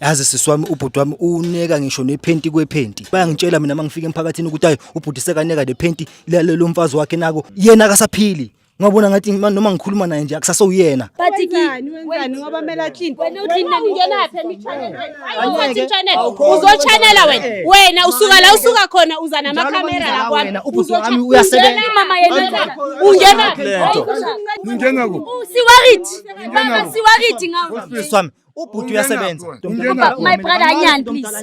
yazi sisi wami ubhuti wami uneka ngisho nephenti kwephenti bayangitshela mina mangifika emphakathini ukuthi hayi ubhuti sekaneka nephenti lelo mfazi wakhe nako yena akasaphili ngabona ngathi ma- noma ngikhuluma naye nje akusasowuyena But ki Wenzani, wenzani ngoba kumele athinte. wena uthi nina ningenaphi emichanelweni? Hayi ukwenza imchanelo. Uzochanela wena. Wena usuka la usuka khona uza namakamera la kwami. Wena, ubhuti Uzocha- wami uyasebenza. Ungena mama yena ungena. Ungena. Lento. Hayi, Ngingena kuphi? Siwarit. Mama siwarit ngawe. sisi wami ubhuti uyasebenza my brother anyani please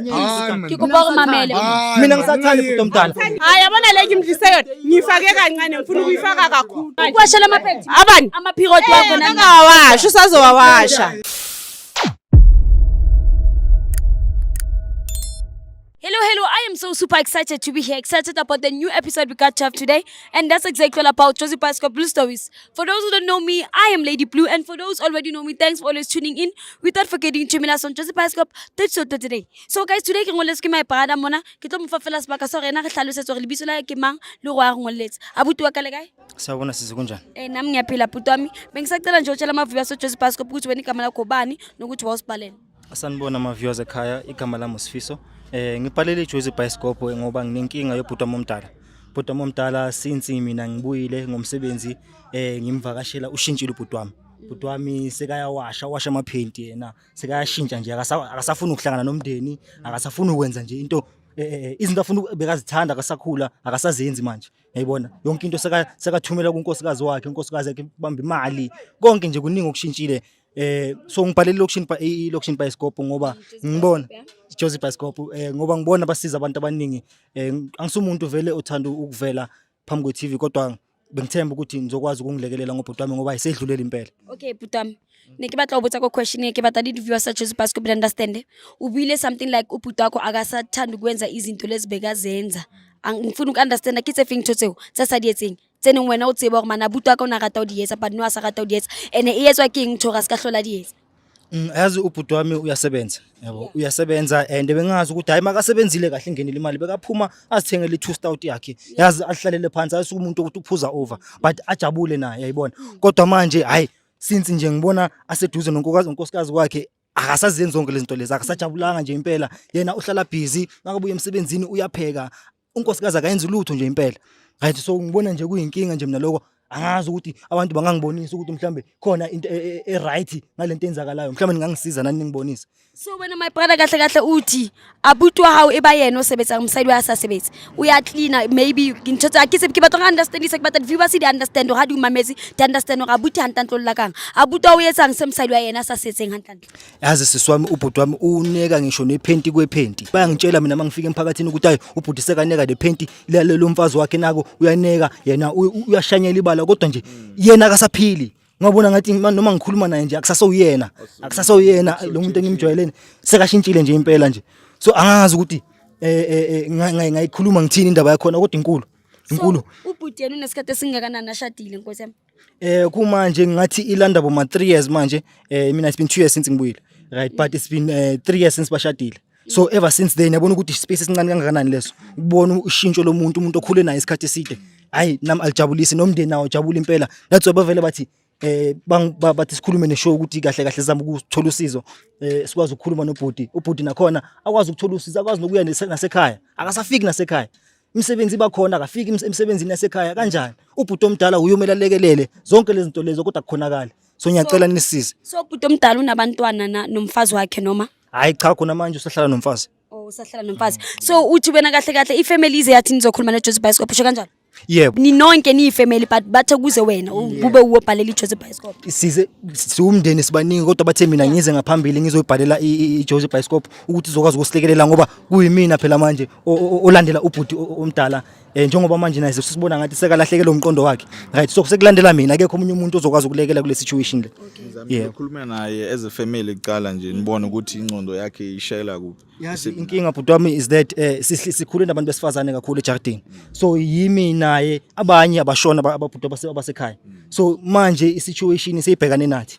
ngikuba kumamele mina ngisathanda ubhuti omdala hayi yabona le ngimdlise yona ngifake kancane ngifuna ukuyifaka kakhulu ukwasha la maphenti abani amaphikoti wakho nangawasha usazowawasha Hello, hello. I am so super excited to be here. Excited about the new episode we got to have today. And that's exactly all about Josie Pascal Blue Stories. For those who don't know me, I am Lady Blue. And for those already know me, thanks for always tuning in. Without forgetting to me last on Josie Pascal, that's so today. So guys, today ke ngoletse ke my parada mona. Ke tlo mo fa fela sebaka sa rena re tlhalosetsa gore lebitso la ke mang le go a ngoletse. Abuti wa ka le kae? Sawubona sisi kunjani? Eh nami ngiyaphila bhuti wami. Bengisacela nje utshela amavubi aso Josie Pascal ukuthi wena igama lakho bani nokuthi wawusibhaleni. Asanibona ama-viewers ekhaya igama lami usifiso eh ngibhalele ijozi bhayisikobho ngoba nginenkinga yobhuti wami omdala bhuti wami omdala since mina ngibuyile ngomsebenzi eh ngimvakashela ushintshile ubhuti wami bhuti wami sekayawasha washa amaphenti yena sekayashintsha nje akasa- akasafuni ukuhlangana nomndeni akasafuni ukwenza nje into eh, eh, eh, izinto afuna uku- bekazithanda akasakhula akasazenzi manje yayibona yonke into seka- sekathumela kunkosikazi wakhe unkosikazi yakhe bamba imali konke nje kuningi okushintshile Eh so ngibhale location pa i location bioscope ngoba ngibona Josie bioscope eh ngoba ngibona basiza abantu abaningi eh angisumuntu vele othanda ukuvela phambi kwe TV kodwa bengithemba ukuthi ngizokwazi ukungilekelela ngobhuti wami ngoba isedlulele impela okay bhuti wami ne ke batla go botsa ko question e ke batla di viewer sa Josie bioscope to understand o buile something like ubhuti wakho akasathanda ukwenza izinto lezibekazenza ngifuna uku understand ke tse feng tsotseo tsa sa di etseng tse neng wena o tseba gore manabuto a ka o ne a rata o di etsa but no a sa rata o di etsa ene e etswa ke eng ntho gore a se ka tlhola di etsa Mm, yazi ubhuti wami uyasebenza yabo uyasebenza and bengazi ukuthi hayi makasebenzile kahle ingenile imali bekaphuma azithengele i-two stout yakhe yazi ahlalele phansi ayisuke umuntu ukuthi uphuza over but ajabule naye yayibona kodwa manje hayi since nje ngibona aseduze nonkokazi nonkosikazi kwakhe akasazenzi zonke lezi zinto lezi akasajabulanga nje impela yena uhlala busy makabuya emsebenzini uyapheka unkosikazi akayenzi lutho nje impela right so ngibona nje kuyinkinga nje mina lokho angazi ukuthi abantu bangangibonisa ukuthi mhlambe khona into e, e, e right ngalento enzakalayo mhlambe ningangisiza nani ningibonise so wena my brother kahle kahle uthi abutwa hao eba yena osebetsa umsayidi wa sasebetsi uya cleaner maybe ngintho tsa ke se ke batla understand se ke batla viewer se di understand ha di umamezi di understand ga buti hantantlo la kang abutwa o yetsang se msayidi wa yena sa setseng hantantlo yazi sisi wami ubhuti wami uneka ngisho nephenti kwephenti bayangitshela mina mangifika emphakathini ukuthi hayi ubhuti sekaneka nephenti lalelo mfazi wakhe nako uyaneka yena u- u- uyashanyela ibala kodwa nje yena akasaphili ngabona ngathi ma- noma ngikhuluma naye nje akusasowuyena akusasowuyena lo muntu engimjwayeleni sekashintshile nje impela nje so angazi ukuthi eh, eh, eh, nga- nga- ngayikhuluma ngithini indaba yakhona kodwa inkulu inkulu So, ubhuti yena unesikhathi esingakanani ashadile nkosi yami Eh kumanje ngathi ilanda bo ma 3 years manje. Eh mina it's been 2 years since ngibuyile. Right but it's been 3 uh, years since bashadile. So ever since then yabona ukuthi space esincane kangakanani leso. Ukubona ushintsho lomuntu umuntu okhule naye isikhathi eside. Hayi nami alijabulisi nomndeni nawo jabula impela. That's why bavele bathi eh bathi sikhulume neshow ukuthi kahle kahle sizama ukuthola usizo eh sikwazi ukukhuluma nobhuti ubhuti nakhona akwazi ukuthola usizo akwazi nokuya nasekhaya akasafiki nasekhaya imisebenzi iba khona akafiki emsebenzini yasekhaya kanjani ubhuti omdala uyomela alekelele zonke lezi zinto lezo kodwa kukhonakala so ngiyacela nisize so ubhuti omdala unabantwana na- nomfazi wakhe noma hayi cha khona manje usahlala nomfazi oh usahlala nomfazi so uthi wena kahle kahle ifamily ize yathi nizokhuluma neJozi Bioscope usho kanjalo yebo ninonke niyifamily but bathe kuze wena kube uwobhalela iJozi Bioscope size siwumndeni sibaningi kodwa bathe mina ngize ngaphambili ngizoyibhalela i- i- iJozi Bioscope ukuthi izokwazi ukusilekelela ngoba kuyimina phela manje o- o- olandela ubhuti o- o- omdala eh njengoba manje naye sesibona ngathi sekalahlekelwe umqondo wakhe right so sekulandela mina akekho omunye umuntu ozokwazi ukulekela kule situation le yeah Ngikhulume naye as a family kuqala nje nibone ukuthi ingcondo yakhe ishayela kuphi. yazi inkinga bhuti wami is that eh sihli- sikhule nabantu besifazane kakhulu ejardini so yimi naye abanye abashona aba- ababhuti abase- abasekhaya so manje isituation seyibhekane nathi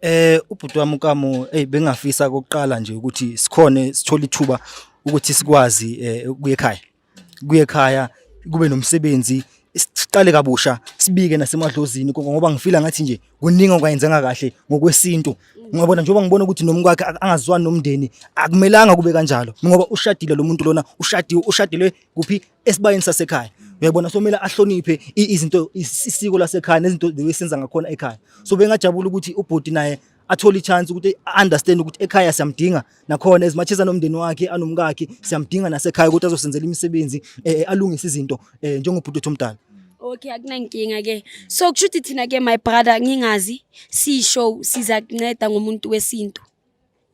Eh ubhuti wami uKamu hey bengafisa ukuqala nje ukuthi sikhone sithola ithuba ukuthi sikwazi eh, ukuya ekhaya. Kuye ekhaya kube nomsebenzi siqale kabusha sibike nasemadlozini konke ngoba ngifila ngathi nje kuningi okwayenzanga kahle ngokwesintu ngiyabona njengoba ngibona ukuthi nomkwakhe ak- angazwani nomndeni akumelanga kube kanjalo ngoba ushadile lo muntu lona ushadiwe ushadile kuphi esibayeni sasekhaya uyabona so kumele ahloniphe izinto isiko lasekhaya nezinto esenza ngakhona ekhaya so bengajabula ukuthi ubhuti naye athole ichance ukuthi understand ukuthi ekhaya siyamdinga nakhona ezimathisa nomndeni wakhe anomkakhe siyamdinga nasekhaya ukuthi azosenzela imisebenzi eh, eh, alungise izinto eh, njengobhuti wethu omdala Okay akunankinga ke. So kusho ukuthi thina ke my brother ngingazi si show siza kunceda ngomuntu wesintu.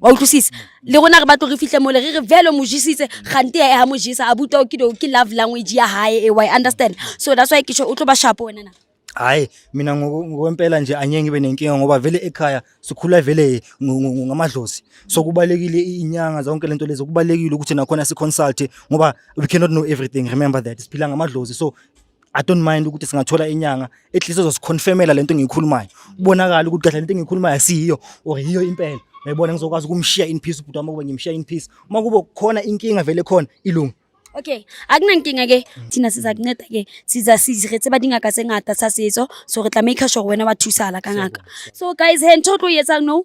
wa utlwisisa le rona re batlo re fitlhe mole re re vele mo jesitse gante ya ha mo jesa a buta o ke ke love language ya hae e wa understand so that's why ke sho o tlo ba sharp wena na hayi mina ngokwempela nje anyengi be nenkinga ngoba vele ekhaya sikhula vele ngamadlozi so kubalekile inyanga zonke lento lezo kubalekile ukuthi nakhona si consult ngoba we cannot know everything remember that siphila ngamadlozi so I don't mind ukuthi singathola inyanga at least uzosiconfirmela lento engiyikhulumayo kubonakala ukuthi kahle lento engiyikhulumayo asiyiyo or yiyo impela uyayibona ngizokwazi ukumshiya in peace ubhuti wami ukuba ngimshiya in peace uma kube khona inkinga vele khona ilungu okay akunankinga ke thina siza kunceda ke siza siziretse ba dingaka tse ngata sa setso so re tla make sure wena wa thusala ka ngaka so guys he ntho o tlo e etsang no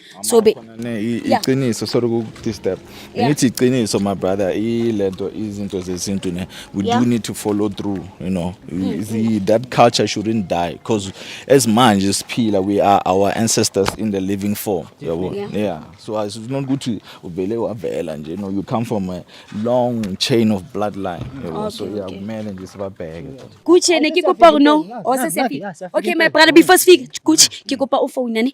so be iqiniso sorry ukudisturb ngithi iqiniso my brother ilento izinto zesintu ne we do need to follow through you know mm. that culture shouldn't die because as manje siphila we are our ancestors in the living form yabo yeah so it's not ukuthi uvele wavela nje no you come from a long chain of bloodline yabo so yeah kumele nje sibabheke kuthi ne kikopa no osesephi okay my brother before speak kuthi kikopa ufone ne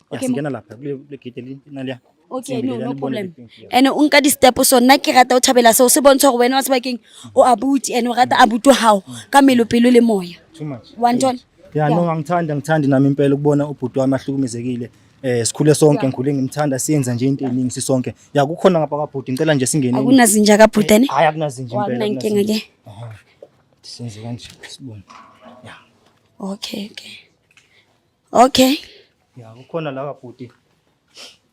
Okay, mo- Singena lapha kule kule gate li naliya. okay no no problem and o nka di-step so nna ke rata o thabela seo se bontsha gore wena wa sebakeng o abuti and o rata abuti wa gago ka melo pelo le moya Too much. wa ntona Yeah, no angithandi angithandi nami impela ukubona ubhuti wami ahlukumezekile. Eh sikhule sonke ngikhule ngimthanda siyenza nje into eningi sisonke. Ya kukhona ngapha kabhuti ngicela nje singene. akunazinja kabhutane Hayi akunazinje impela. akunankinga ke Senze kanje sibone. okay okay Okay. Ya kukhona lawa bhuti.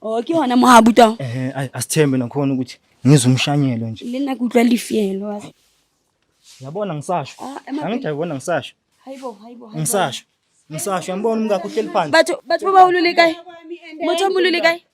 Okay wona mohabuta. Eh ay asithembe nakhona ukuthi ngizwe umshanyelo nje. Lena kutlwa lifiyelo wazi. Yabona ngisasho. Ah, Angithi yabona ngisasho. Hayibo hayibo hayibo. Ngisasho. Ngisasho yambona umkakho uhleli phansi. Bathu bathu baba ululekayi. Motho mululekayi.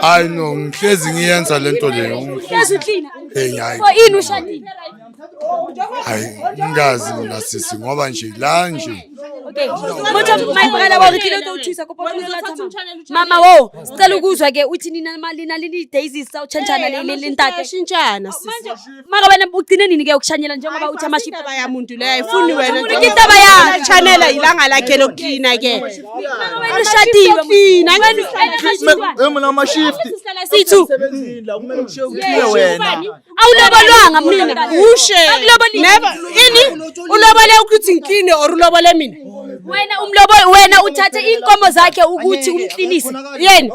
hayi no ngihlezi ngiyenza le nto leyo heyi hayi hayi ngingazi mina sisi ngoba nje la nje Okay. Motho mayibhala wa ngithile utothusa kupho Mama wo, sicela ukuzwa ke uthi nina malina lini daisies sawuchantshana le le ntate. Shintshana sisi. maka wena ugcine nini ke ukushanyela njengoba uthi amaship indaba ya muntu leyo ayifuni wena Umuntu nje. indaba yakhe. chanela ilanga lakhe lokuklina ke Maka wena ushadiwe Klina, Wena- wena- Hey, mina ama-shift. Sihlala sithu Ukhile wena. awulobolwanga mina ushe Akulobolile. never ini ulobole ukuthi ngikline or ulobole mina wena umlobo wena uthathe inkomo zakhe ukuthi umklinise yena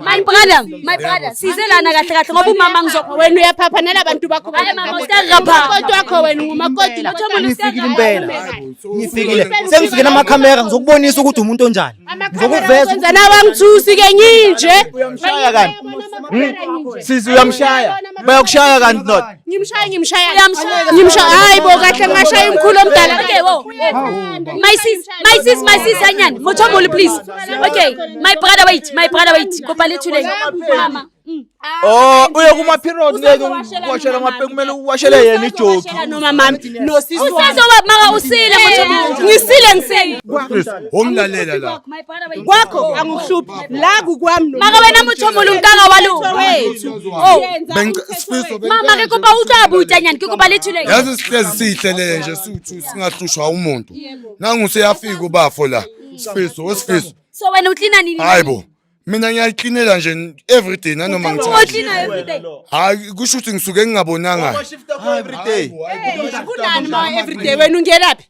My brother, my brother, size lana kahle kahle ngoba umama ngizokho wena uyaphaphanela abantu bakho. Hayi mama usiyagabha. Kodwa wakho wena ungumakoti lapho. Ngifikile impela. Ngifikile. Sengifike nama camera ngizokubonisa ukuthi umuntu onjani. Ngizokuveza. Kwenza nawe angithusi ke nginje. Uyamshaya kanti. Sizi uyamshaya. Bayakushaya kanti not. ngimshaya ngimshaya ngimshaya hayi bo kahle ngashaya umkhulu omdala okay wo my sis my sis my sis anyani mothomboli please okay my brother wait my brother wait kopa lethuleni mama mm. Oh uye kuma period ngeke uwashele amape kumele uwashele yena ijoki noma mama no sisi usazoba maka usile mothomboli ngisile ngisile womlalela la kwakho angikuhluphi la kukwami no maka wena motho molo nkaka wa lo oh sifiso mama ke kopa utswa abuta nyani ke kopa lethule yazi sihlezi sihlele nje suthu singahlushwa umuntu nangu seyafika ubafo la sifiso wesifiso so wena uklina nini hayibo mina ngiyayiklinela nje everyday nanoma ngithahayi kusho ukuthi ngisuke ngingabonanga kunani ma everyday wena ungelaphi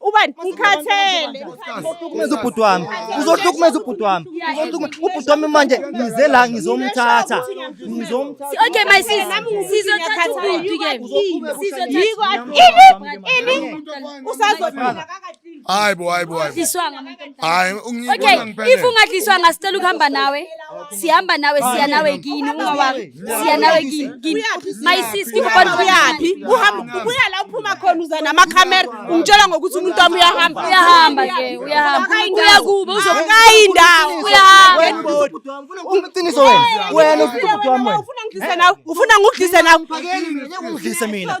ubani ngikhathele uzohlukumeza ubhuti wami uzohlukumeza ubhuti wami uzohlukumeza ubhuti wami manje ngize la ngizomthatha ngizomthatha okay my sis sizothatha ubhuti ke sizothatha ini ini usazophila hayi bo hayi bo hayi hayi ungiyibona ngempela okay if ungadliswanga sicela ukuhamba nawe sihamba nawe siya nawe kini ungawari siya nawe kini kini my sis ngikubona uyaphi uhamba ubuya la uphuma khona uza namakhamera ungitshela ngokuthi umuntu wami uyahamba uyahamba ke uyahamba uya kubo uzokayi indawo uyahamba uqiniso wena wena ufuna ngidlise nawe ufuna ngidlise nawe ungidlise mina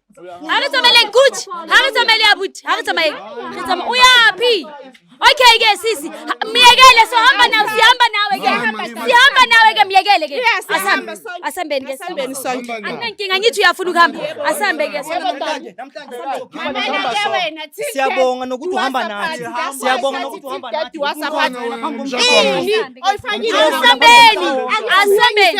ha re tsamaeleng kuch ha re tsamaele abuti ha re tsamaele re tsamaya o yaphi okay ke sisi myekele sohamba nawe sihamba nawe ke sihamba nawe ke myekele ke asambe asambeni ke sambeni sonke anginankinga ngithi uyafuna ukuhamba asambe ke siyabonga nokuthi uhamba nathi siyabonga nokuthi uhamba nathi asambeni asambeni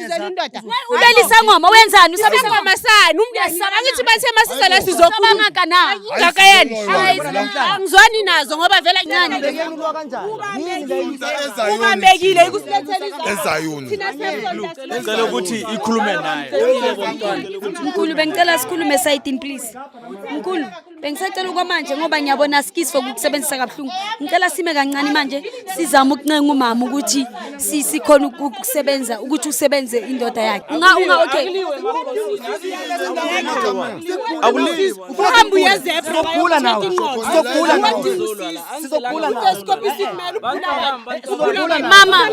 Uzela indoda. Ubela isangoma wenzani? Usaba isangoma sani? Umndeni saba ngithi bathe masiza la sizokhuluma ngaka na. Ngaka yani. Angizwani nazo ngoba vele incane. Ubambekile ikusibethela izolo. Ezayuni. Thina siyabona. Ngicela ukuthi ikhulume naye. Mkhulu bengicela sikhulume side please. Mkhulu Bengisacela okwamanje ngoba ngiyabona asikisi for ukusebenzisa kabuhlungu. Ngicela sime kancane manje sizama ukuncenga umama ukuthi sikhona ukusebenza ukuthi usebenze indoda yakhe. Unga unga okay. Akuliwe. Uhamba uyezebra. Sokhula nawe. Sokhula nawe. Sizokhula nawe. Sizokhula nawe. Mama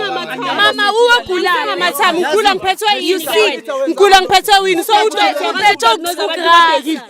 mama uwagulana mathami ukhula ngiphethwe yini? You see? Ngikhula ngiphethwe yini? So uphethwe ukusuka.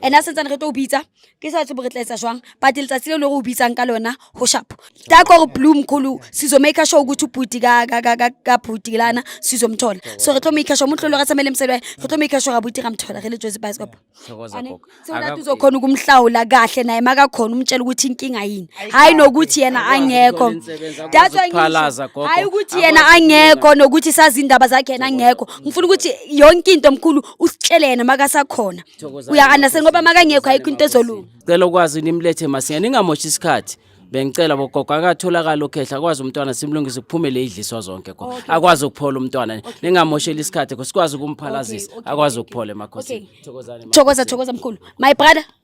ene a sentsane re tlo o bitsa ke sa tsebo re tla etsa jwang but letsatsi le le go o bitsang ka lona go shapo ta kore bloom kholo sizomaker sure ukuthi ubhuti ka bhuti lana sizomthola so re tlo maker sure umuntu lolo ka tsamele msebe re tlo maker sure abuti ramthola re le jozi bicycle sewona tuzokhona ukumhlawula kahle naye makakhona umtshela ukuthi inkinga yini hayi nokuthi yena angekho that's why hayi ukuthi yena angekho nokuthi sazi indaba zakhe yena angekho ngifuna ukuthi yonke into mkhulu usitshele yena makasakhona Thokozani. uyakana sengoba makangekho ayikho into ezolunga cela ukwazi nimlethe masinya ningamoshi isikhathi bengicela bogogo akatholakala ukhehla akwazi umntwana simlungise kuphumele idliswa zonke kho akwazi ukuphola umntwana ningamosheli isikhathi kho sikwazi ukumphalazisa akwazi ukuphola emakhosini thokozani ma- thokoza thokoza mkhulu my brother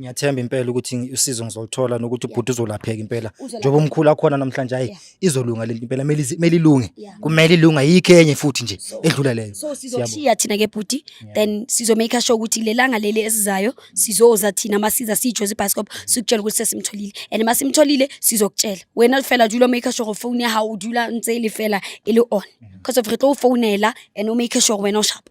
ngiyathemba impela ukuthi ngi- usizo ngizoluthola nokuthi ubhuti uzolapheka impela Uzolapha. njengoba umkhulu akhona namhlanje hayi Yeah. izolunga lento impela kumele izi- kumele ilunge Yeah. kumele ilunge ayikho enye futhi nje So- edlula leyo so sizoshiya thina ke bhuti then sizomake sure ukuthi lelanga leli esizayo sizoza thina masiza siyijwe zibhasikop sikutshela ukuthi sesimtholile and masimtholile sizokutshela wena fela dula make sure phone ya hao dula ntse e le fela e le on because of re tlo u founela and o make sure wena o shapa